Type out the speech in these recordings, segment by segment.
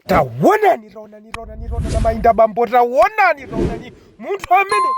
tawonani tawonani tawonani tawonani amayi ndi abambo tawonani tawonani munthu amene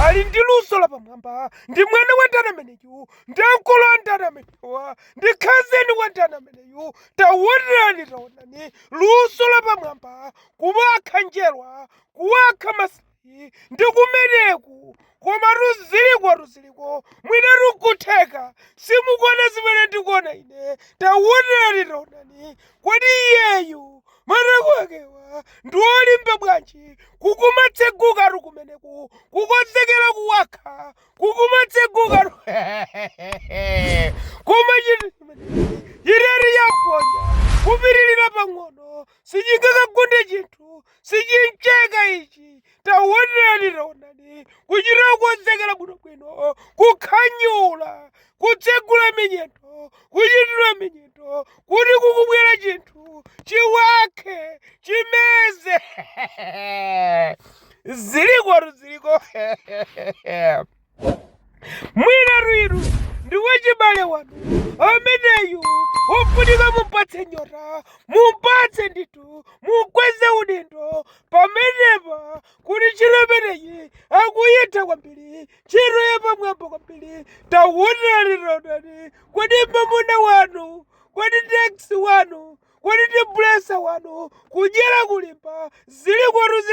ali ndi luso la pamwamba ndi mwana wa ndani ameneyu ndi ankolo a ndani amenewa ndi khazeni wa ndani ameneyu tawonani tawonani luso la pamwamba kuwakha njerwa kuwakha mas Ati, ndi kumeneku komatu zilikotu ziliko mwinatu kutheka simukuona zimene ndikuona ine tawonani taonani kodi iyeyu matako akewa ndi olimba bwanji kukumatsegukatu kumeneku kukonzekera kuwakha kukumatsegukatu koma chinthu chimenechi chitati yaponya kupitirira pang'ono sichingakagunde chinthu sichimcheka ichi taonani taonani kuchita kukonzekera bwinobwino kukhanyula kutsegula minyendo kuchitira minyendo kuti kukubwera chinthu chiwakhe chimeze zilikotu ziliko mwinatu inu ndi wachibale wanu ameneyu ofunika mumpatse nyota mumpatse ndithu mukweze udindo pamenepa kuti ntchito imeneyi akuyitha kwambiri ntchito yapamwamba kwambiri tawonani taonani kodi mamuna wanu kodi teksi wanu kodi ndi bulesa wanu kudyera kulimba zilikotu zili